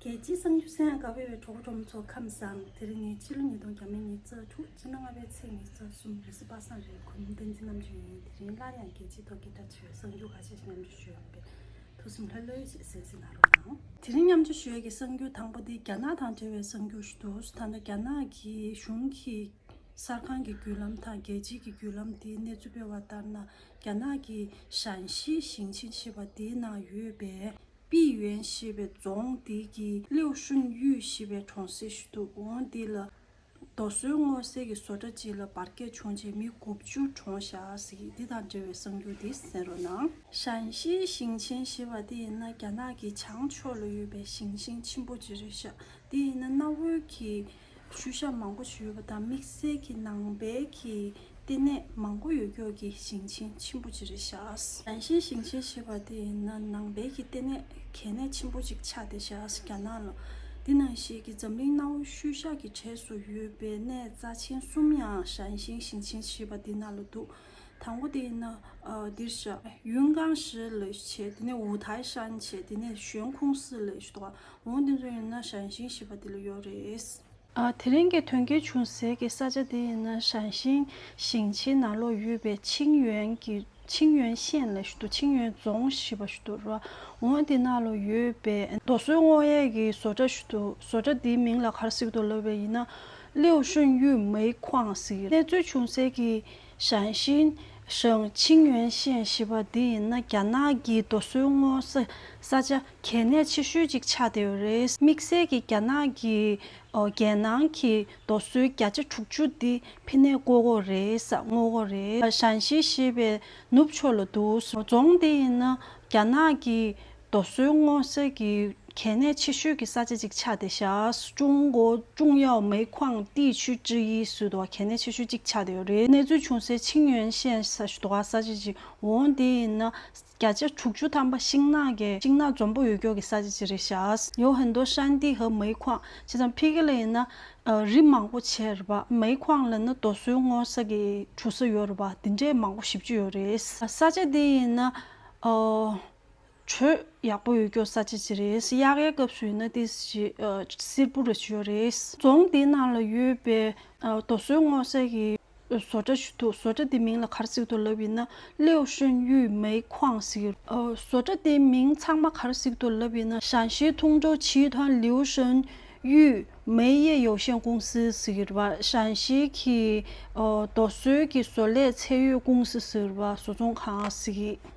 རྒྱལ་སྤྱིའི་གསང་རྒྱུད་ས་ཡང་དགའ་བོད་པའི་གྲོགས་པོ་གྲོགས་མོ་ཚོ་ཁམས་བཟང་དེ་རིང་ནི་ཕྱི་ལོ་ཉིས་སྟོང་གྱ་མའི་ཉི་ཙག་དྲུག་སྤྱི་ལོ་ལྔ་པའི་ཚེས་ཉི་ཙག་གསུམ་རེས་པ་སངས་རྒྱས་གོ་མིན་ཏན་ཚེ་རྣམ་བཅུ་ཡིན་དེ་རིང་སླར་ཡང་རྒྱལ་སྤྱིའི་ཐོག་སྐད་གྲགས་ཆེ་བའི་གསང་རྒྱུད་ག་ཤེད་ཅིག་མཉམ་སྤྱོད་ཞུས་ཡོང་པས་ཐུགས་སེམས་ལྷོད་ལྷོད་ཅིག་གཟེར་གཟེར་གནང་རོགས་གནང། དེ་རིང་མཉམ་སྤྱོད་ཞུ་ཡས་ཀྱི་གསང་རྒྱུད་དང་པོ་དེ་རྒྱ་ནག་དང་འབྲེལ་བའི་གསང་རྒྱུད་ཞིག་འདུག་ད་ལྟ་རྒྱ་ནག་གི་གཞུང་གིས་གསར་ཁང་གི་བརྒྱུད་ལམ་དང་རྒྱལ་སྤྱིའི་གི་བརྒྱུད་ལམ་དེའི་གནས་ཚུལ་སྤེལ་བ་ལྟར་ན་རྒྱ་ནག་གི་ཞན་ཤིས་ཞིང་ཆེན་ཞེས་པ་དེའི་ནང་ཡོད་པའི་པི་ཝན་ཞེས་པའི་རྫོང་དེ་གའི་ལིའུ་ཧྲུན་ཡུས་ཞེས་པའི་གྲོང་གསེབ་ཞིག་ཏུ་འོངས་དེ་ལ་རྡོ་སོལ་དངོས་གསལ་གྱི་བཟོ་གྲྭ་གཅིག་ལ་འབར་གས་བྱུང་རྗེས་མི་དགུ་བཅུར་གྲོངས་བཞག་ཟིག་དེ་དང་འབྲེལ་བའི་གསང་རྒྱུ་འདི་གསན་རོགས་གནང། ཞན་ཤིའི་ཞིང་ཆེན་ཞེས་པ་དེ་ཡིན་ན་རྒྱ་ནག་གི་བྱང་ཕྱོགས་ལ་ཡོད་པའི་ཞིང་ཆེན་ཆེན་པོ་གཅིག་རེད་ཤག་དེ་ཡིན་ན་གནའ་བོའི་གི་ཤུལ་བཞག་མང་པོ་ཞིག་ཡོད་པ་དང་དམིགས་བསལ་གྱི་ནང་པའི་གྱི་ལྟེ་གནས་མང་པོ་ཡོད་སྐྱོར་གྱི་ཞིང་ཆེན་ཆེན་པོ་གཅིག་རེད་བཞག། རང་བཞིན་ཞིང་ཆེན་ཞེས་པ་དེ་ཡིན་ན་ནང་པའི་གྱི་ལྟེ་གནས་གལ་གནད་ཆེན་པོ་གཅིག་ཆགས་ཏེ་བཞག་རྒྱ་ནག་ལ་འདི་ནང་བཞིན་གྱི་འཛམ་གླིང་གནའ་བོའི་ཤུལ་བཞག་གི་གྲས་སུ་ཡོད་པའི་གནས་རྩ་ཆེན་གསུམ་ཡང་ཞང་ཞིང་ཞིང་ཆེན་ཞེས་པ་འདི་ནང་ལ་འདུག་དང་པོ་དེ་ནི་འདིར་བཞག། ཡུན་ཀང་ཞི་ལི་ཆེ་དེ་ནས་ཝུའུ་ཐའི་ཧྲན་ཆེ་དེ་ནས་ཞོན་ཁུང་སི་ལི་ཞེས་གཏོགས་པ་འོང་དེ་ཚོ་ཡིན་ན་ཞན་ཞིང་ཞེས་པ་དེ་ལ་ཡོད་རེད། དེ་རིང་གི་དོན་རྐྱེན་བྱུང་ཟེར་གི་ས་ཆ་དེ་ཡིན་ན་ཞན་ཞིང་ཞིང་ཆེན་ནང་ལོགས་ཡོད་པའི་ཆིང་ཡོན་གི་ཆིང་ཡོན་ཤན་ལི་ཞེས་ཆིང་ཡོན་རྫོང་ཞེས་པ་ཞེས་པ་འོང་དེ་ནང་ལོགས་ཡོད་པའི་རྡོ་སོལ་སྔོ་ཡས་ཀི་བཟོ་གྲྭ་ཞེས་བཟོ་གྲྭ་དེའི་མིང་ལ་གར་སིག་ཏུ་ལབ་པའི་ཡིན་ན་ལིའུ་ཧྲིན་ཡུས་མེའི་ཁོང་གསེང་གནས་ཚུལ་ཅུང་ཟད་ཀྱིས་ཞང་ཞིན་ཞིང་ཆིང་ཡོན་ཤན་ཞེས་པ་འདི་ཡིན་ན་རྒྱ་ནག་གི་རྡོ་སོལ་དངོས་ས་ཆ་གལ་གནད་ཆེ་ཤོས་ཅིག་ཆགས་བསྡད་ཡོད་རེད། དམིགས་བསལ་གྱིས་རྒྱ་ནག་གི་རྒྱལ་ནང་གི་རྡོ་སོལ་བརྒྱ་ཆ་དྲུག་ཅུ་འདི་ཕི་ནས་བཀོལ་འགོ་རེད་ས་དངོས་པོ་རེད། ཞང་ཞིན་ཞེས་པའི་ནུབ་ཕྱོགས་ལ་འདུག་རྫོང་འདི་ཡིན་ན་རྒྱ་ནག་གི་རྡོ་སོལ་སྔོ་ཚལ་གྱི་གལ་གནད་ཆེ་ཤོས་ཀྱི་ས་ཆ་གཅིག་ཆགས་ཏེ་ཤར་ཀྲུང་གོ་ཀྲུང་ཡའོ་མེ་ཁུའང་ཏི་ཆུས་ཀྲི་ཡི་སུའུ་དུ་བ་གལ་གནད་ཆེ་ཤོས་གཅིག་ཆགས་ཏེ་ཡོད་རེད་གནས་ཚུལ་བྱུང་སའི་ཆིང་ཡོན་ཤན་ས་ཞུ་དུ་བ་ས་ཆ་གཅིག་འོང་དེ་ཡིན་ན་བརྒྱ་ཆ་དྲུག་ཅུ་ཐམ་པ་ཤིང་ནགས་ཀྱི་ཤིང་ནགས་འཛོམས་པོ་ཡོད་སྐྱོར་གྱི་ས་ཆ་གཅིག་རེད་ཤར་ཡོ་ཧན་དོ་ཧྲན་ཏི་ཧྭ་མེ་ཁུའང་བྱས་ཙང་ཕི་ཀི་ལ་ཡིན་ན་རི་མང་པོ་ཆེ་རེད་པ་མེ་ཁུའང་ལ་ན་རྡོ་སོལ་སྔོ་ས་གི་གྲུ་ས་ཡོད་རེད་པ་དེ་འདྲའི་མང་པོ་བཞི་བཅུ་ཡོད་རེད་ས་ཆ་དེ་ཡིན་ན། ཁྱོད་ཡག་པོ་ཡོད་སྐྱོ་ས་ཅི་ཅི་རེད་གཡག་ཡའི་སྐབས་སུ་ཡིན་ན་དེ་སིལ་བུ་རེད་ཞུ་ཡ་རེད། རྫོང་དེའི་ནང་ལ་ཡོད་པའི་རྡོ་སོལ་སྔོག་ས་ཀྱི་བཟོ་གྲྭ་ཞིག་འདུག་བཟོ་གྲྭ་དེ་མིང་ལ་གར་གཟིགས་ཏུ་ལབ་ཡིན་ན་ལིའོ་ཧྲིན་ཡུས་མེའི་ཁོང་ཟིག་ཡོད། བཟོ་གྲྭ་དེའི་མིང་ཚང་མ་གར་གཟིགས་ཏུ་ལབ་ཡིན་ན་ཞན་ཤིས་ཐུང་ཀྲོའུ་ཆིའི་ཐང་ལིའོ་ཧྲིན་ཡུས་མེའི་གཡས་ཡོ་ཤན་ཀུང་སི་ཟིག་ཡོད་པ་ཞན་ཤིས་ཀྱི་རྡོ་སོལ་གྱི་བཟོ་ལས་ཚད་ཡོད་ཀུང་སི་ཟིག་ཡོད་པ་བཟོ་ཚོང་ཁང་ཟིག་ཡིན།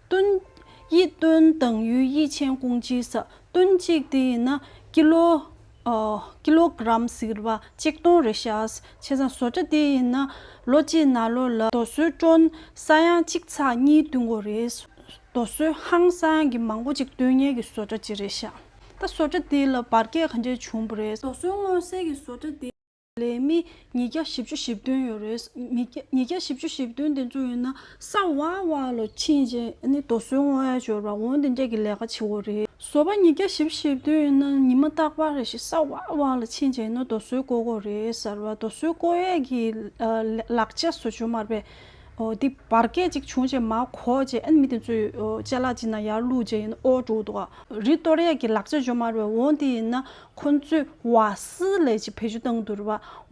སྟོན། དབྱིག་སྟོན་དང་ཡུལ་དབྱིག་ཆེན་ཀུང་ལྕིའི་ས་སྟོན་གཅིག་དེ་ཡིན་ན་ཀི་ལོ། ཀི་ལོ་གྲམ་ཟིལ་བ་གཅིག་སྟོང་རེ་ཤཱས་ཕྱེ་ས་བཟོ་གྲ་དེ་ཡིན་ན་ལོ་གཅིག་ན་ལོ་ལ་རྡོ་སོལ་བཀྲོན་ས་ཡང་གཅིག་ཚགས་གཉིས་བསྟུན་གོ་རེ། རྡོ་སོལ་ཧང་ས་ཡང་གི་མང་པོ་གཅིག་བསྟུན་གཉིས་ཀྱི་བཟོ་གྲ་གཅིག་རེ་ཤཱ། ད་བཟོ་གྲ་དེ་ལ་བར་ཁྱད་གང་འདྲས་བྱུང་བ་རེད། རྡོ་སོལ་མངོན་གསལ་གྱི་བཟོ་གྲ་དེ། ལས་མི་ཉིས་བརྒྱ་བཞི་བཅུ་བཞི་བདུན་ཡོད་རེད། མི་ཉིས་བརྒྱ་བཞི་བཅུ་བཞི་བདུན་དེ་ཚོ་ཡོད་ན་ས་བ་བ་ལོ་ཕྱིན་རྗེས་ནི་རྡོ་སོལ་དངོས་ཡོད་སྦྱོར་བ་འོང་དེ་འདྲས་ཀྱི་ལས་ཀ་བྱེད་འོ་རེད། བཟོ་པ་ཉིས་བརྒྱ་བཞི་བཞི་བདུན་ཡོད་ན་ཉི་མ་རྟག་པར་རེ་ཞིག་ས་བ་བ་ལོ་ཕྱིན་རྗེས་ནི་རྡོ་སོལ་བརྐོ་འོ་རེད་ཟེར་བ་རྡོ་སོལ་བརྐོ་ཡས་ཀྱི་ལག་རྗེས་བཟོ་བཅོས་མར་པས་འདི་བར་སྐད་ཅིག་བྱུང་རྗེས་མ་གོ་རྗེས་མི་དེ་ཚོའི་ལྕེ་ལག་ཅི་ན་ཡར་བླུགས་རྗེས་ཨོ་འགྲོ་འདུག་རི་གཏོར་ཡས་ཀྱི་ལག་རྗེས་བཅོས་མར་པས་འོང་དེ་ཡིན་ན་ཁོང་ཚོས་བ་སི་ལེ་ཆི་བེད་སྤྱོད་བཏང་འདུག་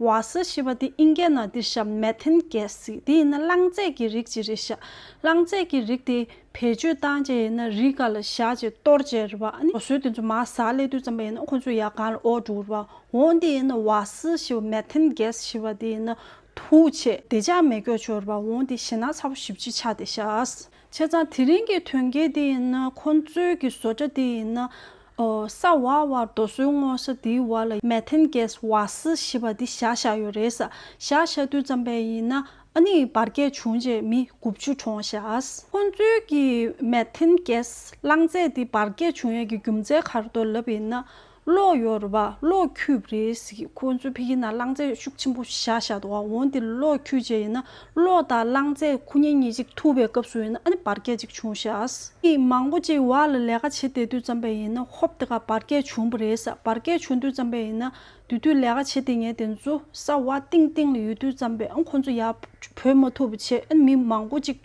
བ་སི་ཞེས་པ་དེ་ཨིན་སྐད་ནང་དེ་ཤ་མེ་ཐན་སྐད་ཟིག་དེ་ཡིན་ན་རླངས་རྫས་ཀྱི་རིགས་ཅིག་རེད་ཤག་རླངས་རྫས་ཀྱི་རིགས་དེ་བེད་སྤྱོད་བཏང་རྗེས་ཡིན་ན་རི་ག་ལ་བཞག་ཅེས་གཏོར་རྗེས་རེད་བ་ཨ་ཟོས་དེ་ཚོ་མ་ཟ་སླེ་དུས་ཙམ་པ་ཡིན་ན་ཁོང་ཚོས་ཡ་གང་ལ་ཨོག་འབྲུག་རེད་བ་འོང་དེ་ཡིན་ན་བ་སི་ཞེས་པ་མེ་ཐན་སྐད་ཞེས་པ་དེ་ཡིན་ན་དུག་ཆེ་བདེ་ཅག་མེད་སྐྱོ་ཆོས་རེད་བ་འོང་དེ་ཞེ་ན་ཚ་བོ་བཞི་བཅུ་ཆགས་བསྡད་ཤག་བྱས་ཙང་དེ་རིང་གི་དོན་རྐྱེན་འདི་ཡིན་ན་ཁོང་གཙོས་ཀྱི་བཟོ་གྲྭ་འདི་ཡིན་ན། ས་བ་བར་རྡོ་སོལ་བརྔོ་ས་འདིའི་བར་ལ Methane Gas Waste ཞེས་པ་འདི་བཞག་བཞག་ཡོད་རེད་ས་བཞག་བཞག་དུས་ཙམ་པས་ཡིན་ན་ཨ་ནི་བར་བརྒལ་བྱུང་རྗེས་མི་དགུ་བཅུ་གྲོངས་བཞག་ཁོང་གཙོས་ཀྱི Methane Gas རླངས་རྫས་འདི་བར་བརྒལ་བྱུང་ཡས་ཀྱི་རྒྱུ་མཚན་གར་དོ་ལབ་ཡིན་ན། གློག་གཡོར་བ་གློག་འཁྱུད་རེད་ཟེར་གི་ཁོང་ཚོས་ཕེ་ཁི་ན་རླངས་རྫས་ཤུགས་ཆེན་པོ་བཞག་བཞག་འདུག་ཨ་འོན་ཏེ་གློག་འཁྱུད་བྱས་ཡིན་ན་གློག་དང་རླངས་རྫས་ཁུ་ཉིན་གཉིས་གཅིག་ཐུག་པའི་སྐབས་སུ་ཡིན་ན་ཨ་ནི་བར་བསྐལ་གཅིག་བྱུང་ཤག། མི་མང་པོ་གཅིག་བར་ལ་ལས་ཀ་བྱེད་བསྡད་དུས་ཙམ་པས་ཡིན་ན་ཧོབ་དེ་ག་བར་བསྐལ་བྱུང་པོ་རེད་ས་བར་བསྐལ་བྱུང་དུས་ཙམ་པས་ཡིན་ན་དུས་དུས་ལས་ཀ་བྱེད་བསྡད་ངེས་དེ་ཚོ་ས་བ་གཏིང་གཏིང་ལ་ཡོད་དུས་ཙམ་པས་ཨ་ཁོང་ཚོ་ཡར་བུད་མ་ཐུབ་པོ་བྱས་ཨ་ནི་མི་མང་པོ་གཅིག་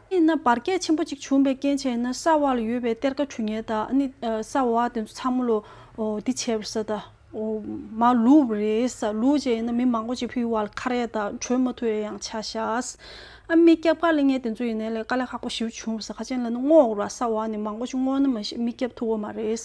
དེས་ན་བར་བསྐལ་ཆེན་པོ་གཅིག་བྱུང་བའི་རྐྱེན་བྱས་ན་ས་བར་ཡོད་པའི་གཏེར་ཁ་གྲུ་ཉལ་དག་ནི་ས་བ་དེ་ཚོ་ཚང་མ་ལོ་འདི་བྱས་པར་ས་དང། མ་ལུས་རེ་ས་ལུས་བྱས་ན་མི་མང་པོ་གཅིག་ཕུལ་བ་ལ་ཁ་རས་དང་གྲོས་མ་ཐུ་རས་ཡང་ཆ་ཤས། ཨ་མི་སྐྱབས་དཀའ་ལས་ངན་དེ་ཚོ་ཡིན་ནའི་ལས་དཀའ་ལས་ཁག་པོ་ཞིབ་བྱུང་བ་ས་ཁ་ཅན་ལ་ནི་བསྔོག་རོགས་ལ་ས་བ་ནི་མང་པོ་ཅིག་བསྔོག་ན་མ་ཤེས་མི་སྐྱབས་ཐུ་བ་མ་རེད།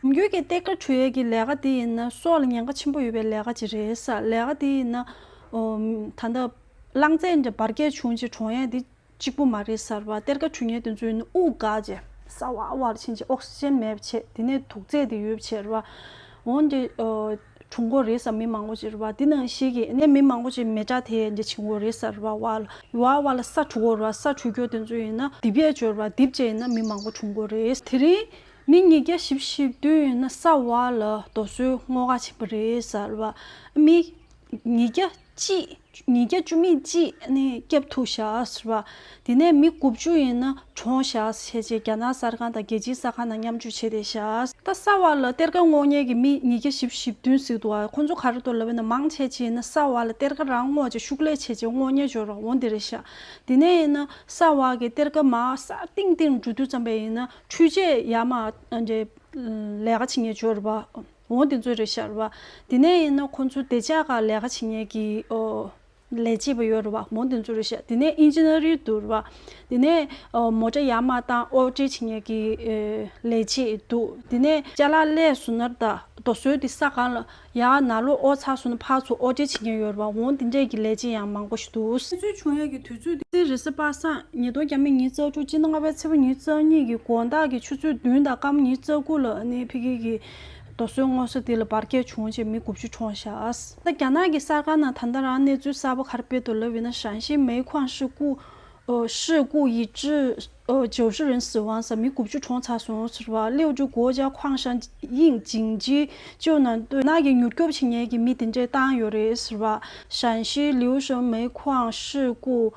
རྒྱུད་ཀྱི་གཏེར་ཁ་གྲུ་ཡལ་གྱི་ལས་ཀ་དེ་ཡིན་ན་སྲོག་ལ་ཉེན་ཁ་ཆེན་པོ་ཡོད་པའི་ལས་ཀ་ཅིག་རེད། ལས་ཀ་དེ་ཡིན་ན། ད་ལྟ། རླངས་རྫས་འདྲ་བར་བསྐལ་བྱུང་རྗེས་གྲོང་ཡལ་འདི་གཅིག་པུ་མ་རེད་གསར་བ་གཏེར་ཁ་འཕྲུལ་ཉེ་དུ་འཛུལ་ནས་དབུགས་འགག་རྗེས་གསར་བ་བར་ཕྱིན་རྗེས་ཨོག་སི་ཅན་མེད་པ་བྱས་དེ་ནས་དུག་རྫས་དེ་ཡོད་པ་བྱས་རེད་བ། འོན་ཏེ། བྱུང་འགོ་རེད་བསམ་མི་མང་པོ་ཅིག་རེད་བ། དེ་ནང་ཞིག་གིས་ནས་མི་མང་པོ་ཅིག་མེ་དྲ་དེ་འདྲ་བྱིན་འགོ་རེད་གསར་བ་བ་ལ་ཡུ་བ་བ་ལ་ས་འཁྲུ་འགོ་རེད་བ་ས་འཁྲུ་རྒྱོ་དེ་ཚོ་ཡིན་ན་དིབ་ཡས་སྦྱོར་བ་དིབ་བྱས་ཡིན་ན་མི་མང་པོ་འཁྲུ་འགོ་རེད། དེ་རིང་མི་ཉིས་བརྒྱ་བཞི་བཞི་བདུན་ཡིན་ན་གསར་བ་ལ་རྡོ་སོལ་སྔོ་འགག་བྱིན་པ་རེད་གསར་བ། མི་ཉིས་བརྒྱ་གཅིག། ཉིས་བརྒྱ་བཅུ་མེད་གཅིག་ནི་སྐྱབས་ཐུག་བཞག་ཟེར་བ། དེ་ནས་མི་དགུ་བཅུ་ཡིན་ན་གྲོངས་བཞག་བྱས་རྗེས་རྒྱ་ནག་གསར་ཁང་དང་རྒྱལ་སྤྱིའི་གསར་ཁང་དང་མཉམ་སྤྱོད་བྱས་ཏེ་བཞག། ད་ས་བ་ལ་གཏེར་ཁ་བསྔོག་ཉེས་ཀྱི་མི་ཉིས་བརྒྱ་བཞི་བཞི་བདུན་ཟིག་འདུག་ཁོ་ཚོ་གར་འདོར་ལབ་ཡོད་ན་མང་ཆེ་ཆེ་ཡིན་ན་ས་བ་ལ་གཏེར་ཁ་རང་བསྔོག་ཅིག་ཤུགས་ལས་ཆེ་ཆེ་བསྔོག་ཉེས་འབྱོར་བ་འོང་དེ་རེད་བཞག་དེ་ནས་ཡིན་ན་ས་བ་གི་གཏེར་ཁ་མ་ས་ཏིང་ཏིང་འགྲོ་དུས་ཙམ་པས་ཡིན་ན་འཕྲུལ་ཆས་ཡ་མ་ལས་ཀ་བྱེད་ཉེས་འབྱོར་བ། ངོ་འདི་ཚོའི་རེད་ཤར་བ། དེ་ནས་ཡིན་ན་ཁོ་ཚོའི་བདེ་འཇགས་ཁག་ལས་ཀ་བྱེད་ཉེས་ཀྱི། ལས་བྱེད་པ་ཡོད་རེད་བ། མོ་འདི་ཚོའི་རེད་ཤར། དེ་ནས་ཨིན་ཇི་ནེ་རིའི་འདུག་རེད་བ། དེ་ནས། མོ་དྲ་ཡག་མ་བཏང་ཨོ་བྲེལ་བྱེད་ཉེས་ཀྱི། ལས་བྱེད་འདུག་དེ་ནས། ལྕ་ལག་ཀླད་སུ་ནར་ད་རྡོ་སོལ་དེ་ས་གང་ལ། ཡག་ན་ལོ་ཨོ་ཚག་སུ་ན་ཕག་ཚོ་ཨོ་བྲེལ་བྱེད་མཁན་ཡོད་རེད་བ་ངོ་འདི་འདྲས་ཀྱི་ལས་བྱེད་ཡང་མང་པོ་ཞིག་འདུག། ཁྱེད་ཚོའི་བྱུང་ཡས་ཀྱི་དུས་ཚོད་དེ། རེད་ཟེར་པ་སངས་ཉིན་སྟོང་རྒྱ་མི་ཉིན་རྩ་དྲུག་སྤྱི་ལྔ་པའི་ཚེས་པ་ཉིན་རྩ་གཉིས་ཀྱི་དགོང་དག་གི་ཆུ་ཚོད་བདུན་དང་སྐམ་ཉིན་རྩ་དགུ་ལ་ནི་ཕི་གེ་གིས་རྡོ་སོལ་དངོས་ས་དེ་ལ་འབར་གས་བྱུང་བྱས་མི་དགུ་བཅུ་གྲོངས་ཤགས། རྒྱ་ནག་གི་གསར་ཁང་ནང་ད་ལྟ་རང་གནས་ཚུལ་གསར་པ་གར་སྤེལ་དུ་ལབ་ཡོད་ན་ཞང་ཞིང་མེའི་ཁོངས་ཧྲི་ཀུ། Shi Gu Yi Zhi། ཇོ་ཧྲི་རིན་སི་ཝང་ས་མི་དགུ་བཅུ་གྲོངས་ཚར་སོང་ཟེར་བ་ལིའོ་ཀྲུའུ་གོ་ཅཱ་ཁོང་ཞང་ཡིང་ཇིང་ཇི་ཅོ་ནང་བསྟོད་ནག་གི་མྱུར་སྐྱོབ་བྱེད་ཉེས་ཀྱི་མི་དེ་འདྲས་བཏང་ཡོད་རེད་ཟེར་བ་ཞང་ཞིའི་ལིའུ་ཧྲིན་མེའི་ཁོངས་ཧྲི་ཀུ།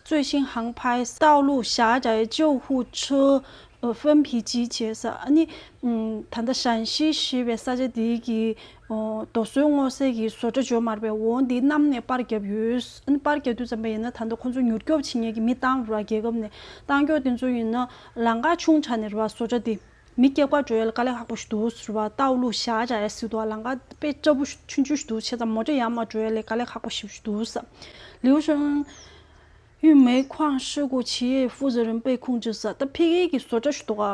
Zuixinhang Pai། ཏའོ་ལུའུ་ཞཱ་ཅཱའི་ཅོའུ་ཧུའུ་ཁྲི། ཧྥེན་བྷི་ཇི་ཅེས་ས་ནི་ད་ལྟ་ཧྲན་ཤི་ཞེས་པའི་ས་ཆ་འདི་ཡི་རྡོ་སོལ་སྔོ་ཟས་ཀྱི་བཟོ་གྲྭ་འཇོག་མར་པའི་འོ་འདི་གནམ་ནས་པར་བརྒྱབ་ཡོད། པར་བརྒྱབ་དུས་ཙམ་པ་ཡིན་ན་ད་ལྟ་ཁོ་ཚོ་མྱུར་སྐྱོབ་བྱེད་ཉེས་ཀྱི་མི་གཏང་རུང་རྒྱལ་ཁབ་ནས་གཏང་སྐྱོག་དེ་ཚོ་ཡིན་ན་ལང་ཀ་ཆུང་ཆ་ནས་རུ་བ་བཟོ་གྲྭ་འདི་མི་སྐྱེག་པར་འགྲོ་ཡ་ལ་དཀའ་ལས་ཧག་པོ་ཞིག་འདུག་རུ་བ་རྟ་འུ་ལུག་ཞག་བྱ་ཡ་སྲིད་འདུག་ལང་ཀ་དཔེ་སྐྲ་བུ་ཆུན་ཆུན་ཞིག་འདུག་བྱས་ཙམ་མོ་ཏྲ་ཡར་མར་འགྲོ་ཡ་ལས་དཀའ་ལས་ཧག་པོ་ཞིག་འདུག་ལིའུ་ཧྲེང། ཡུས་མེའི་ཁུའང་ཧྲི་གོ་ཆི་ཡའི་ཧྥུའུ་ཙི་རིམ་པའི་ཁུངས་ཅི་ཟ་ཏཱ་ཕི་ཁེ་གི་བཟོ་གྲྭ་ཞུ་གཏོགས་ཨ་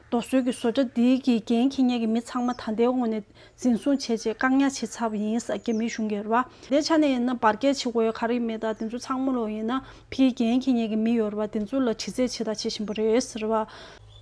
མདོ་སོལ་གྱི་བཟོ་གྲྭ་འདི་གི་རྒན་གྱི་གཉེར་གྱི་མི་ཚང་མ་ད་ལྟའི་དབང་ནས་འཛིན་བཟུང་བྱས་རྗེས་བཀག་ཉར་བྱས་ཚར་བ་ཡིན་ས་རྒྱ་མིའི་གཞུང་གིས་རེད་བ། དེའི་ཆ་ནས་ཡིན་ན་བར་བརྒལ་བྱེད་དགོས་ཡ་ག་རེ་མེད་ད་དེ་ཚོ་ཚང་མ་ལོག་ཡིན་ན་ཕི་ཁེ་རྒན་གྱི་གཉེར་གྱི་མི་ཡོད་རེད་བ་དེ་ཚོ་ལ་དྲི་རྩད་བྱས་ད་བྱས་བཞིན་པ་རེད་ཟེར་བ།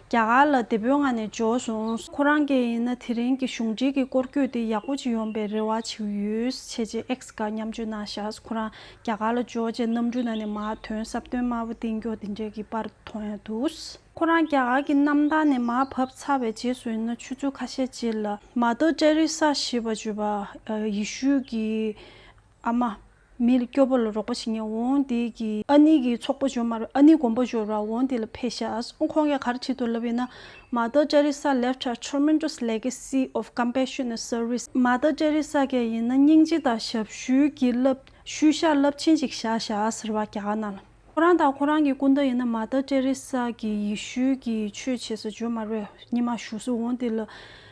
རྒྱ་གར་ལ་བདེ་པོའི་ངང་ནས་འབྱོར་སོང། ཁོ་རང་སྐད་ཡིན་ན་དེ་རིང་གི་གཞུང་འབྲེལ་གྱི་སྐོར་སྐྱོད་དེ་ཡག་པོ་ཅིག་ཡོང་པའི་རེ་བ་བྱེད་ཡོད། ཆེས་ཆེར་ཨེག་སི་སྒར་མཉམ་སྤྱོད་ན་ཤཱས་ཁོ་རང་རྒྱ་གར་ལ་འབྱོར་རྗེས་གནམ་གྲུ་ནང་ནས་མར་ཐོན་སྲབ་སྟོན་དམར་པོ་སྟེང་སྐྱོགས་འདི་འདྲའི་གི་པར་མཐོང་ཡང་འདུག། ཁོ་རང་རྒྱ་གར་གྱི་གནམ་ཐང་ནས་མར་བབས་ཚར་བའི་རྗེས་སུ་ཡིན་ན་ཆུ་ཚོད་ཁ་ཤས་རྗེས་ལ་མ་ཏོ་ཏྲེ་རི་སཱ་ཞེས་པ་བརྗོད་པ་ཡེ་ཤུ་ཡི་ཨ་མ། མི་ལ་སྐྱོབ་པ་ལ་རོགས་པ་བྱེད་མཁན་འོང་དེ་གི་ཨ་ནི་གི་ཚོགས་པ་འབྱོར་མ་རེད་ཨ་ནི་དགོན་པ་འབྱོར་བ་འོང་དེ་ལ་ཕེ་ཤཱས་ཁོང་གི་གར་ཁྲིད་དུ་ལབ་ཡོད་ན Mother Teresa left a tremendous legacy of compassion and service Mother Teresa གས་ཡིན་ན་སྙིང་རྗེ་དང་ཞབས་ཞུའི་གི་རླབས་ཤུལ་བཞག་རླབས་ཆེན་ཞིག་བཞག་ཤཱས་ཟེར་བ་ག་ག་ན་ལ། ཁོ་རང་དང་ཁོ་རང་གི་སྐུ་ཟླ་ཡིན་ན་མ་ད་ཏྲེ་རེ་ས་གིས་ཡེ་ཤུ་ཀྱི་ཆོས་བྱེད་ས་ཇོ་མར་བའི་སྙེ་མ་བཞུགས་སུ་འོང་འདི་ལ་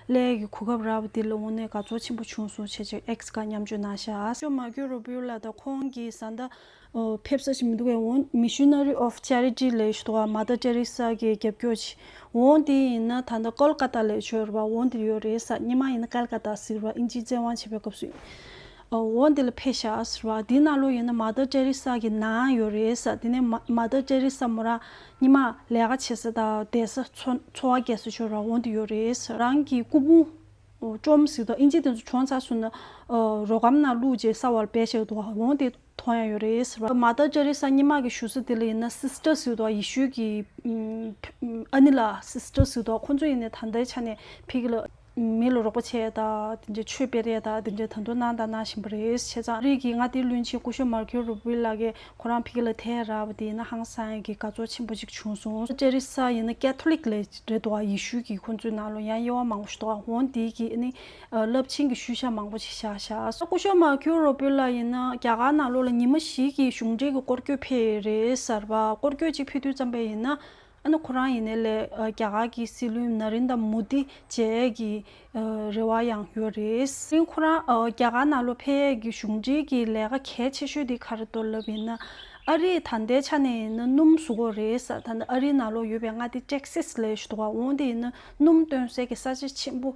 ཀླད་ཀྱི་གོ་སྐབས་རག་པ་འདི་ལ་འོང་ནས་དགའ་ཚོར་ཆེན་པོ་བྱུང་སོང་བྱས་ཅིག་ཨེག་ཀ་མཉམ་སྤྱོད་གནང་ཤག་ཨ། ཇོ་མར་ཀྱོ་རོ་པུའུ་ལ་དང་ཁོང་གི་བཟའ་ཟླ། ཕེབས་ས་ཞིག་མི་འདུག་བས་འོང Missionary of Charity ལས་ཞུ་དགའ་མ་ད་ཏྲེ་རེ་ས་གིས་རྒྱབ་སྐྱོར་བྱས་འོང་འདི་ཡིན་ན་ད་ད་ཀོལ་ཀ་ཏ་ལས་ཆོས་ར་བ་འོང་འདིར་ཡོད་རེ་ས་སྙེ་མ་ཡིན་ན་ཀལ་ཀ་ཏ་ཟིག་ར་ཨིན་ཇིའི་བཙན་དབང་བྱས་པའི་སྐབས་སུ་འོ་འདི་ལ་ཕེ་ཤ་ཟེར་བ་འདི་ན་ལོ་ཡོད་ན་མ་ཏར་ཏྲེ་རི་སཱ་གི་ནང་ཡོད་རེད་ས་དེ་ནས་མ་ཏར་ཏྲེ་རི་སཱ་མོ་རང་ཉི་མ་ལས་ཀ་བྱེད་ས་དང་བསྡད་ས་འཚོ་བ་སྐྱེལ་ས་ཆོས་ར་འོ་འདི་ཡོད་རེད་ས་རང་གི་སྐུ་ཕུང་བཅོམ་ཟིག་དང་ཨིན་ཇི་དེ་ཚོ་བྱོན་ཚར་སོང་ན་རོ་གམ་ནང་བླུག་རྗེས་ས་བར་བེ་ཤེག་དུ་འོ་འདི་ཐོ་ཡང་ཡོད་རེད་ཟེར་བ་མ་ཏར་ཏྲེ་རི་སཱ་ཉི་མ་གི་ཞུ་ས་དེ་ལ་ཡིན་ན Sister ཟིག་དང་ཡེ་ཤུའི་གི་ཨ་ནི་ལ Sister ཟིག་དང་ཁོང་ཚོ་ཡིན་ནས་ད་ལྟའི་ཆ་ནས་ཕེ་གི་ལ། མི་ལ་རོགས་པ་བྱས་ད་དེ་འདྲའི་ཆོས་སྤེལ་རེད་ད་དེ་འདྲའི་ད་དུང་གནང་ད་གནང་བཞིན་པ་རེད་བྱས་ཙང་རིགས་ཀྱི་ང་དེ་བླུན་ཆེན་སྐུ་ཞོ་མར་ཁེའུ་རུ་བུལ་ལགས་ཀྱི་ཁོ་རང་ཕིག་ལ་ཐལ་རག་པ་དེ་ཡིན་ན་ཧང་སང་གི་དགའ་ཚོར་ཆེན་པོ་ཅིག་བྱུང་སོང་ཅེ་རི་སཱ་ཡིན་ན་ཀལ་ཐོ་ལིག་ལས་རེད་དོ་ཡེ་ཤུ་གི་ཁོང་ཚོའི་ནང་ལོ་ཡང་དབྱེ་བ་མང་པོ་ཞིག་དོ་འོང་དེ་གི་ནི་རླབས་ཆེན་གི་ཤུལ་བཞག་མང་པོ་ཞིག་བཞག་བཞག་སོང་སྐུ་ཞོ་མར་ཁེའུ་རུ་བུལ་ལགས་ཡིན་ན་རྒྱ་གར་ནང་ལོ་ལ་ཉིན་མ་ཞིག་གི་གཞུང་འབྲེལ་གི་སྐོར་སྐྱོད་ཕེ་རེད་གསར་པ་སྐོར་སྐྱོད་ཅིག་ཕེ་དུས་བརྩམས་པ་ཡིན་ན་ཨ་ན་ཁོ་རང་ཡིན་ནའི་ལས་རྒྱ་གར་གྱི་སྲིད་བློན་ན་རིན་དཱ་མུ་དི་བཅས་ཀྱི་རེ་བ་ཡང་ཡོད་རེད། དེང་ཁོ་རང་རྒྱ་གར་ནང་ལོ་འཕེལ་ཡས་ཀྱི་གཞུང་འབྲེལ་གྱི་ལས་ཀ་གལ་ཆེ་ཤོས་དེ་གར་གཏོར་ལབ་ཡིན་ན། ཨ་རིའི་ད་ལྟའི་ཆ་ནས་ཡིན་ན་སྣུམ་བཟོ་འགོ་རེད་ས་ད་ནི་ཨ་རིའི་ནང་ལོ་ཡོད་པའི་མངའ་སྡེ Texas ལས་ཞུ་དོ་བ་འོང་དེ་ཡིན་ན་སྣུམ་སྟོན་སའི་གི་ས་ཆ་ཆེན་པོ་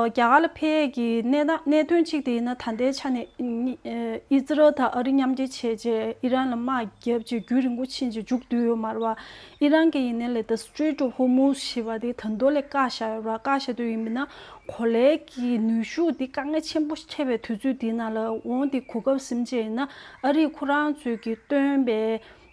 རྒྱ་གར་ལ་འཕེལ་ཡས་ཀྱི་གནད་དོན་གཅིག་དེ་ཡིན་ན་ད་ལྟའི་ཆ་ནས་ཨི་ཛི་རལ་དང་ཨ་རི་མཉམ་འབྲེལ་བྱས་རྗེས་ཨི་རན་ལ་དམག་བརྒྱབ་རྗེས་རྒྱུན་རིང་པོ་ཕྱིན་རྗེས་མཇུག་བསྡུས་ཡོད་མ་རེད་བ། ཨི་རན་གྱི་ཡིན་ན་ལས་ད Strait of Hormuz ཞེས་པ་དེ་ད་དུང་ལས་བཀག་བཞག་ཡོད་རེད་བ། བཀག་བཞག་དུས་ཡིན་མིན་ན་གོ་ལའི་གི་ནུས་ཤུགས་དེ་དཀའ་ངལ་ཆེན་པོ་འཕྲད་པའི་དུས་ཚོད་དེའི་ནང་ལ་འོང་དེ་གོ་སྐབས་ཟིན་རྗེས་ཡིན་ན་ཨ་རིས་ཁོ་རང་ཚོས་ཀྱི་བཏོན་པའི་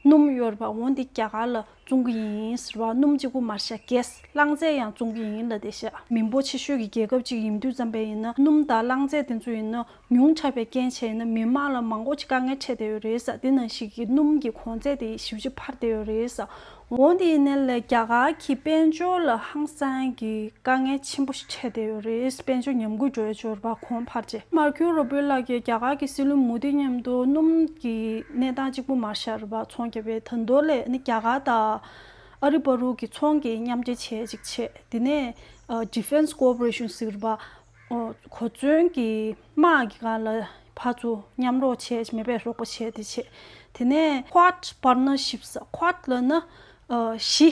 སྣུམ་གཡོར་བ་འོ་འདི་རྒྱ་གར་ལ་བཙོང་གི་ཡིན་ཟེར་བ་སྣུམ་གཅིག་པུ་མར་ཤ་རྒྱས་རླངས་རྫས་ཡང་བཙོང་གི་ཡིན་ལ་དེ་ཤ་མི་འབོ་ཆེ་ཤོས་ཀྱི་རྒྱལ་ཁབ་ཅིག་ཡིན་དུས་བརྩམས་པས་ཡིན་ན་སྣུམ་དང་རླངས་རྫས་དེ་ཚོ་ཡིན་ན་ཉུང་དྲགས་པའི་རྐྱེན་བྱས་ཡིན་ན་མི་དམངས་ལ་མང་པོ་ཅིག་དཀའ་ངལ་འཕྲད་བསྡད་ཡོད་རེད་ས་དེ་ནང་ཞིག་གིས་སྣུམ་གྱི་གོང་ཚད་དེ་ཞིབ་ཅིག་འཕར་བསྡད་ཡོད་རེད་ས་འོ་འདི་ཡིན་ན་ལས་རྒྱ་གར་གྱི་དཔལ་འབྱོར་ལ་ཧང་སང་གི། དཀའ་ངལ་ཆེན་པོ་ཞིག་འཕྲད་བསྡད་ཡོད་རེད་དཔལ་འབྱོར་ཉམས་རྒུད་འགྲོ་ཡོད་ཅོར་བ་གོང་འཕར་རྗེས། མར་ཁེའུ་རོ་པོའི་ལག་གིས་རྒྱ་གར་གྱི་སྲིད་བློན་མུ་དྷི་མཉམ་དུ་སྣུམ་གྱི་གནས་སྟངས་གཅིག་པུ་མར་ཤར་བ་ཚོང་རྒྱབ་པའི་དར་མདོ་ལས་ནི་རྒྱ་གར་དང་ཨ་རི་བྷ་རུག་གི་ཚོང་གི་མཉམ་འབྲེལ་བྱེད་ཅིག་བྱས་དེ་ནས Defence Cooperation ཟེར་བ་གོ་མཚོན་གྱི་དམག་གི་སྒང་ལ་བྷ་ཚོ་མཉམ་རོགས་བྱས་ཀྱི་མེད་པས་རོགས་པ་བྱས་ཏེ་བྱས་དེ་ནས Quad Partnership ཟེར Quad ལ་ནི་བཞི།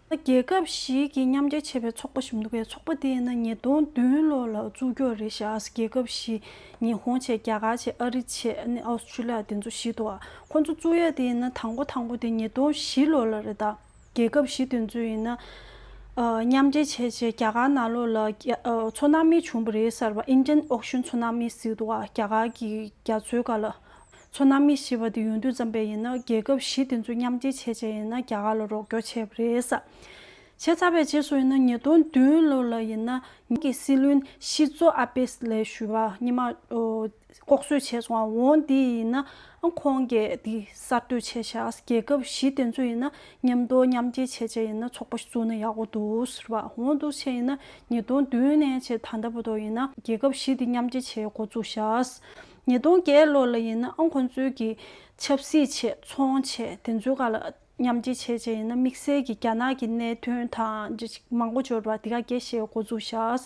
རྒྱལ་ཁབ་ཞིག་གིས་མཉམ་རྒྱལ་བྱས་པའི་ཚོགས་པ་ཞིག་འདུག་གས་ཚོགས་པ་དེ་ཡིན་ན་ཉིས་སྟོང་བདུན་ལོ་ལ་བཙུགས་རྒྱུ་རེད་ཤག་རྒྱལ་ཁབ་བཞི་ཉི་ཧོང་བྱས་རྒྱ་གར་བྱས་ཨ་རི་བྱས་ཨ་ཨོ་སི་ཁྲུ་ལི་ཡ་དེ་ཚོ་བཞི་འདུག་ཁོ་ཚོ་བཙུགས་ཡ་དེ་ཡིན་ན་དང་པོ་དང་པོ་དེ་ཉིས་སྟོང་བཞི་ལོ་ལ་རེད་ད་རྒྱལ་ཁབ་བཞི་དེ་ཚོ་ཡིན་ན། མཉམ་རྒྱལ་བྱས་རྗེས་རྒྱ་གར་ནང་ལོ་ལ་ཚོ་ནམ་མི་བྱུང་པ་རེད་གསར་པ Indian Ocean Tsunami ཟིག་འདུག་གས་རྒྱ་གར་གི་རྒྱ་མཚོའི་ག་ལ་མཚོ་གནའ་མི་ཞེས་པ་དེ་ཡོང་དུས་བརྩམས་པས་ཡིན་ན་རྒྱལ་ཁབ་བཞི་དེ་ཚོ་མཉམ་སྐྱེ་བྱས་བྱས་ཡིན་ན་རྒྱ་གར་ལ་རོགས་སྐྱོར་བྱས་པ་རེད་ས་བྱས་ཚར་པའི་རྗེས་སུ་ཡིན་ན་ཉིས་སྟོང་བདུན་ལོ་ལ་ཡིན་ན་ཉིད་ཀྱི་སྲིད་བློན་ཤི་ཛོ་ཨ་པེས་ལས་ཞུ་བ་གཉིས་མ་ལྐོག་གསོད་བྱས་སོང་བ་འོང་དེ་ཡིན་ན་ཁོང་གས་དེ་གསར་གཏོད་བྱས་ཤག་རྒྱལ་ཁབ་བཞི་དེ་ཚོ་ཡིན་ན་མཉམ་འདོགས་མཉམ་སྐྱེ་བྱས་བྱས་ཡིན་ན་ཚོགས་པ་བཙུགས་ན་ཡག་པོ་འདུག་ཟེར་བ་འོང་འདུག་བྱས་ཡིན་ན་ཉིས་སྟོང་བདུན་ནས་བྱས་ད་ལྟ་བུ་དོག་ཡིན་ན་རྒྱལ་ཁབ་བཞི་དེ་མཉམ་སྐྱེ་བྱས་འགོ་བཙུགས་ཤག་ཉིས་སྟོང་བརྒྱད་ལོ་ལ་ཡིན་ནའང་ཁོང་ཚོའི་གི་ཆབ་སྲིད་ཆེད་ཚོང་བྱས་དེ་ཚོའི་ག་ལ་མཉམ་སྐྱེ་བྱས་བྱས་ཡིན་ན་དམིགས་བསལ་གི་རྒྱ་ནག་གི་གནད་དོན་དང་འདྲ་ཅིག་མང་པོ་འབྱོར་བ་དེ་ག་རྒྱ་ཞེས་མགོ་འཛུགས་བཞགས།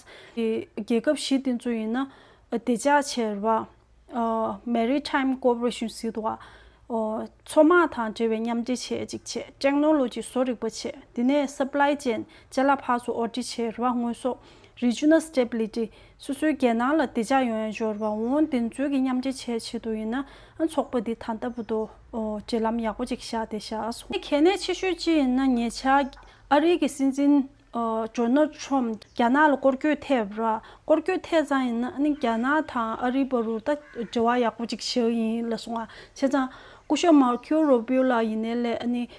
རྒྱལ་ཁབ་བཞི་དེ་ཚོ་ཡིན་ན་བདེ་འཇགས་ཆེར་བ། Maritime Cooperation སྲིད་བ། མཚོ་དམག་དང་འབྲེལ་བའི་མཉམ་སྐྱེ་བྱས་ཅིག་བྱས Technology བཟོ་རིག་པ་བྱས་དེ་ནས Supply Chain བྱས་གླ་ཕག་བཟོ་ཨོ་དྲི་ཆེར་བ་དངོས་ཟོག Regional Stability སོ་སོའི་རྒྱལ་ནང་ལ་བདེ་འཇགས་ཡོང་ཡ་འབྱོར་བ་འོང་བདེན་འཚོལ་གྱི་མཉམ་འབྲེལ་བྱས་ཆེད་དུ་ཡིན་ན་ཚོགས་པ་འདི་ད་ལྟ་བུ་དུ་འབྲེལ་ལམ་ཡག་པོ་ཅིག་བཞག་སྟེ་བཞག་ཨ་སོང། གལ་གནད་ཆེ་ཤོས་ཅི་ཡིན་ན་ཉེ་ཆར་ཨ་རིའི་གི་སྲིད་འཛིན་ཇོ་ནལ་ཁྲོམ་རྒྱ་ནག་ལ་སྐོར་སྐྱོད་ཐེབས་ར་སྐོར་སྐྱོད་ཐེ་ཙང་ཡིན་ན་ནི་རྒྱ་ནག་དང་ཨ་རིའི་བར་རུ་ད་འབྲེལ་བ་ཡག་པོ་ཅིག་བཞག་ཡིན་ལ་སོང་བ་བྱས་ཙང་སྐུ་ཞབས་མར་ཁིའོ་རོ་བྷེའུ་ལགས་ཡིན་ནའི་སླད་ཨ་ནི་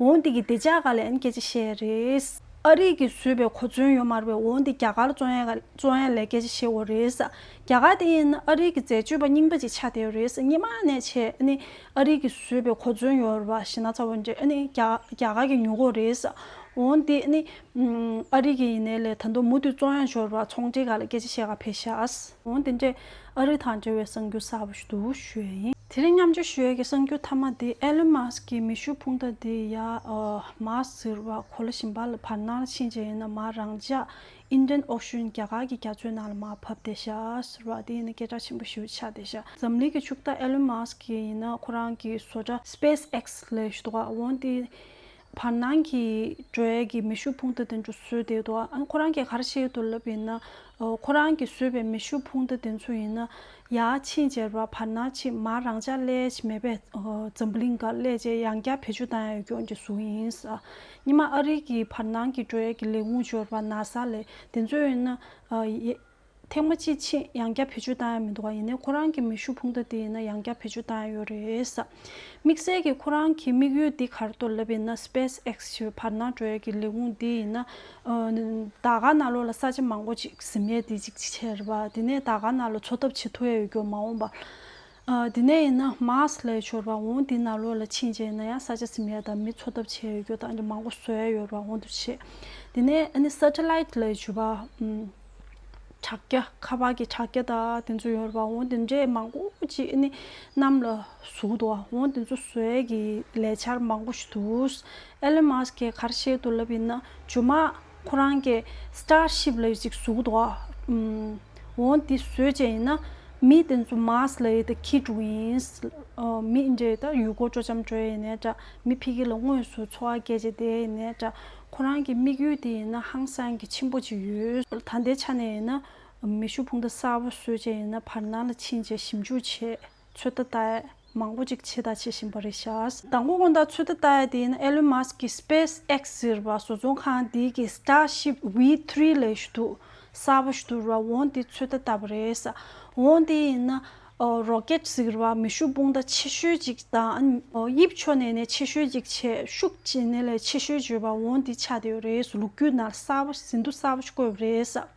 འོ་འདི་གི་བདེ་འཇགས་ག་ལེན་སྐད་ཆ་བཤད་རེད། ཨ་རིག་གི་བཟོས་པའི་གོ་མཚོན་ཡོད་མར་བའི་འོ་འདི་རྒྱ་གར་གཙོ་ཡན་གཙོ་ཡན་ལས་སྐད་ཆ་བཤད་འོ་རེད། རྒྱ་གར་དེ་ཡིན་ན་ཨ་རིག་གི་འཛད་སྤྱོད་པ་རྙིང་པ་ཅིག་ཆགས་བསྡད་འོ་རེད་སྙེ་མ་ནས་བྱས་ནི་ཨ་རིག་གི་བཟོས་པའི་གོ་མཚོན་ཡོད་ར་བ་ཞེ་ན་ཚ་བོ་འདྲེ་ནི་རྒྱ་གར་གི་ཉོ་གོ་རེད། འོ་འདི་ནི་ཨ་རིག་གི་ཡིན་ནའི་ལས་ད་མདོ་མུ་མཐུད་གཙོ་ཡན་བྱོ་ར་བ་ཚོང་འབྲེལ་ག་ལ་སྐད་ཆ་བཤད་ག་ཕེ་ཤ། འོང་དེ་འདྲའི་ཨ་རི་དང་འབྲེལ་བའི་གསང་རྒྱུ་གསར་པ་ཞིག་ཏུ་བཞུགས་ཡོད་ཡིན། དེ་རིང་མཉམ་སྤྱོད་ཞུ་ཡས་ཀྱི་གསང་རྒྱུ་མཐའ་མ་དེ་ཨེ་ལོན་མཱ་སི་ཀིའི་མེ་ཤུགས་འཕུང་རྟ་དེ་ཡ་མཱ་ཟེར་བ་གོ་ལ་བཞིན་པ་ལ་བར་སྣང་ལ་ཕྱིན་རྗེས་ཡིན་ན་མ་རང་ཅག་ཨིན་རན་ཨོག་ཤུན་རྒྱ་གར་གྱི་རྒྱ་མཚོའི་ནང་ལ་མ་བབས་ཏེ་ཤ་ཟེར་བ་དེ་ཡིན་ན་སྐད་གྲགས་ཆེན་པོ་ཞིག་ཆགས་ཏེ་ཤ་འཛམ་གླིང་གི་ཕྱུག་བདག་ཨེ་ལོན་མཱ་སི་ཀི་ཡིན་ན་ཁོ་རང་གི་བཟོ་གྲྭ་སྤེས་ཨེག་སི་ལས་ཞུ་དོགས་འོང་དེ་བར་སྣང་གི་འགྲོས་ཀྱི་མེ་ཤུགས་ཕུང་ཐ་དེ་ཚོ་བཟོས་བསྡད་འདུག་ཨ་ཁོ་རང་གིས་ག་རེ་བཤད་འདུག་ལབ་ཡིན་ན། ཁོ་རང་གིས་བཟོས་པའི་མེ་ཤུགས་ཕུང་ཐ་དེ་ཚོ་ཡིན་ན། ཡ་ཕྱིན་ཅེར་བ་བར་སྣང་ཕྱི་མ་རང་ཅག་ཀླད་ཆེ་མེད་པའི་འཛམ་བུ་གླིང་འགའ་ཀླད་ཆེ་ཡང་བསྐྱར་བེད་སྤྱོད་བཏང་ཡང་ཡོད་སྐྱོང་གི་གཟུགས་ཡིན་ས། གཉིས་མ་ཨ་རིག་གི་བར་སྣང་གི་འགྲོས་ཀྱི་ལས་ཁུངས་འབྱོར་བ་ན་ས་ལས་དེ་ཚོ་ཡིན་ན། ཐེངས་མ་ཅིག་ཕྱིན་ཡང་བརྒྱ་བེད་སྤྱོད་བཏང་ཡ་མི་འདུག་ག་ཡིན་ནའི་ཁོ་རང་གི་མེ་ཤུགས་ཕུང་ད་དེ་ཡིན་ན་ཡང་བརྒྱ་བེད་སྤྱོད་བཏང་ཡ་ཡོད་རེད། དམིགས་བསལ་གྱི་ཁོ་རང་གི་དམིགས་ཡུལ་འདི་གར་གཏོར་ལབ་ཡིན་ན Space X ཞེས་བར་སྣང་བྲོ་ཡ་གི་ལས་ཁུངས་འདི་ཡིན་ན། ད་ག་ན་ལོ་ལ་ས་ཆ་མང་པོ་ཅིག་གཟིམ་ཡ་དེ་ཅིག་ཆེར་བ་དེ་ནས་ད་ག་ན་ལོ་འཚོ་ཐབས་བྱེད་ཐུ་ཡ་ཡོད་རྒྱུ་མ་འོངས་པ། དེ་ནས་ཡིན་ན་མཱས་ལའི་ཆོར་བ་འོང་དེ་ནཱ་ལོ་ལ་ཕྱིན་རྗེས་ན་ཡང་ས་ཆ་སིམ་ཡ་དང་མི་འཚོ་ཐབས་བྱས་ཡོད་རྒྱུ་དང་མང་པོ་བཟོས་ཡོད་རྒྱུ་འོང་དུ་ཆེ། དེ་ནས་ཨ་ནི་སཱ་ཏི་ལཱིད་ལའི་བྱུས་པ་དྲག་སྐྱ་ཁ་བ་གི་དྲག་སྐྱ་དང་དེ་ཚོ་ཡོད་རྒྱུ་འོང་དེ་འདྲས་མང་པོ་ཅིག་ཨ་ནི་གནམ་ལ་ཟུག་འདུག་འོང་དེ་ཚོ་བཟོས་ཀྱི་ལས་འཆར་མང་པོ་ཞིག་འདུག་ཨེ་ལོན་མཱས་ཀྱིས་གར་བཤད་དུ་ལབ་ཡིན་ན་ཇོ་མཱ་ཁོ་རང་གི Star Ship ལ་ཡོད་ཅིག་གཟུགས་དོག་ཨང། འོ་འདི་བཟོས་བྱས་ཡིན་ན་མི་དེ་ཚོ Mars ལ་ཡོད་དེ་ཁྱི་དྲུག་ཡིན། མི་འདྲེ་ད་ཡུལ་སྐོར་སྤྲོ་འཆམ་འགྲོ་ཡས་ཡིན་ནས་འདྲ་མི་ཕི་གི་ལ་དངོས་སུ་འཚོ་བ་སྐྱེལ་བྱས་དེ་ཡིན་ནས་འདྲ་ཁོ་རང་གི་དམིགས་ཡུལ་དེ་ཡིན་ན་ཧང་སང་གི་ཆེན་པོ་ཅིག་ཡོད། ད་ལྟའི་ཆ་ནས་ཡིན་ན་མེ་ཤུགས་འཕུང་ད་གསར་བ་བཟོས་བྱས་ཡིན་ན་བར་སྣང་ལ་ཕྱིན་བྱས་ཞིབ་འཇུག་བྱེད། ཚོད་ལྟ་ལྟ་ཡས་མང་པོ་ཅིག་ཕྱི་དང་བྱེད་བཞིན་པ་རེད་ཤག། དང་པོ་སྔོན་བརྡ་ཚོད་ལྟ་ལྟ་ཡས་དེ་ཡིན་ན Elon Musk གི Space X ཟེར་བ་བཟོ་ཚོང་ཁང་དེ་གི Starship V three ལས་ཞུ་གཏུག་གསར་པ་ཞུ་གཏུག་ར་འོང་དེ་ཚོད་ལྟ་ལྟ་བ་རེད། འོང་དེ་ཡིན་ན Rocket ཟེར་བ་མེ་ཤུགས་དཔུང་རྟ་ཆེ་ཤོས་ཅིག་དང་དབྱིབས་ཕྱོགས་ནས་ནས་ཆེ་ཤོས་ཅིག་བྱས་ཤུགས་ཇེ་ནས་ལས་ཆེ་ཤོས་བརྗོད་པ་འོང་དེ་ཆགས་བསྡད་ཡོད་རེད་ལུག་ཁྱུ་ནར་གསར་པ་ཟིན་ཐོ་གསར་པ་ཞིག་བཀོད་པ་རེད།